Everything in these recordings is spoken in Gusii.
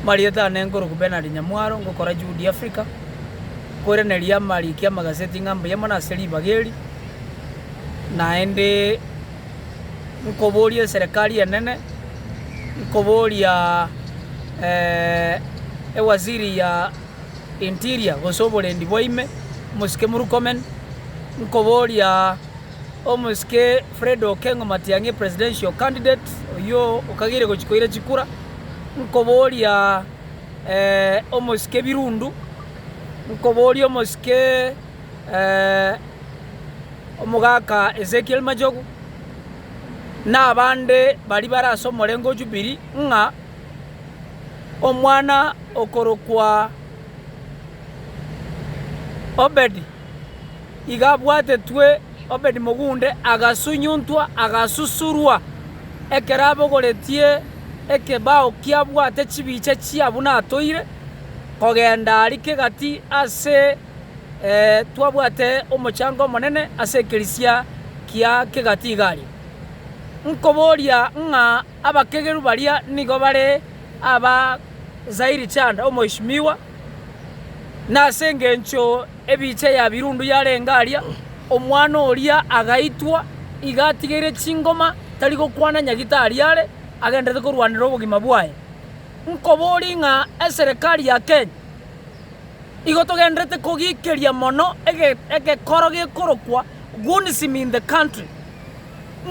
Marieta ane nkoroku Bernard Nyamwaro ngokora Juhudi Africa, koiraneria amariko y'amagaseti ng'a mbuya mono ase ribaga eri, naende nkoboria eserekari enene, nkoboria ewaziri ya Interior gose oborendi bwa ime, Omosike Murkomen, nkoboria. Omosike Fred Okengo Matiang'i, Presidential Candidate, oyio okageire gochia koira chikura, nkoboria omosike Birundu, nkoboria omosike omogaka Ezekiel Machogu, na abande baria bare ase omorengo o Jubilee, ng'a omwana okorokwa Obedi. Iga abwatetwe Obedi mogunde, agasunyuntwa, agasusurwa, ekero abogoretie ekebao kiabwate chibicha chia buna atoire, kogenda aria kegati ase twabwate omochango omonene ase ekerisia kia kegati iga aria. Nkoboria ng'a abakegeru baria nigo bare aba Zairi Chanda, omoishimiwa. Nase engencho ebiicha ya birundu yarenge aria, omwana oria agaitwa, iga atigeire chingoma, tari gokwana nyagitari are, agendererete korwanera obogima bwaye. Nkoborie ng'a eserekari ya Kenya, igo togendererete kogikeria mono ege- egekoro gekorokwa Gunism in the country.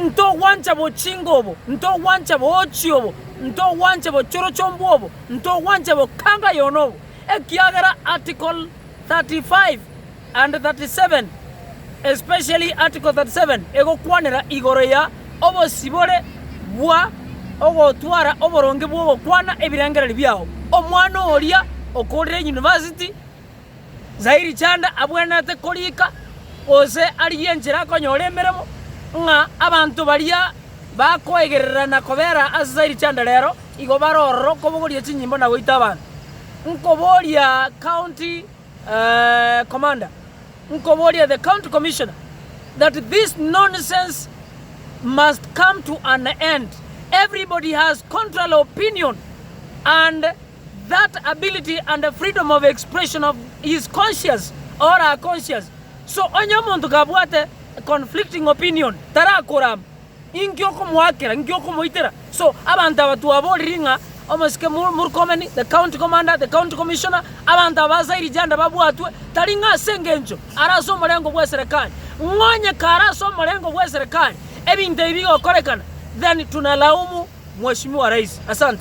Ntogwancha bochinga obo, ntogwancha boochi obo, ntogwancha bochorochombe obo, ntogwanche bokango yono obo, ekiagera Article 35 and 37, especially Article 37, egokwanera igoro ya obosibore bwa ogotwara oboronge bw'ogokwana ebirengererio biao. Omwana oria okorire University. Zairi Chanda abwenerete koriika gose arigie enchera akonyora emeremo, ng'a abanto baria bakoegerera na kobera ase Zairi Chanda rero igo bare ororo okobogoria chinyimbo na goita abanto. Nkoboria county commander, nkoboria the county commissioner that this nonsense must come to an end. Everybody has contrary opinion and that ability and freedom of expression of his conscious or her conscious, so onye omonto kabwate conflicting opinion tarakorama. Inki okomoakera? Inki okomoitera? So abanto aba twaboriri ng'a omosike Mur- Murkomen, the county commander, the county commissioner, abanto aba ase Irijanda babwatwe, tari ng'a ase engencho are ase omorengo bw'eserekari. Ng'onye kare ase omorengo bw'eserekari ebinto ebi bigokorekana, then tunalaumu Mheshimiwa Rais. Asante.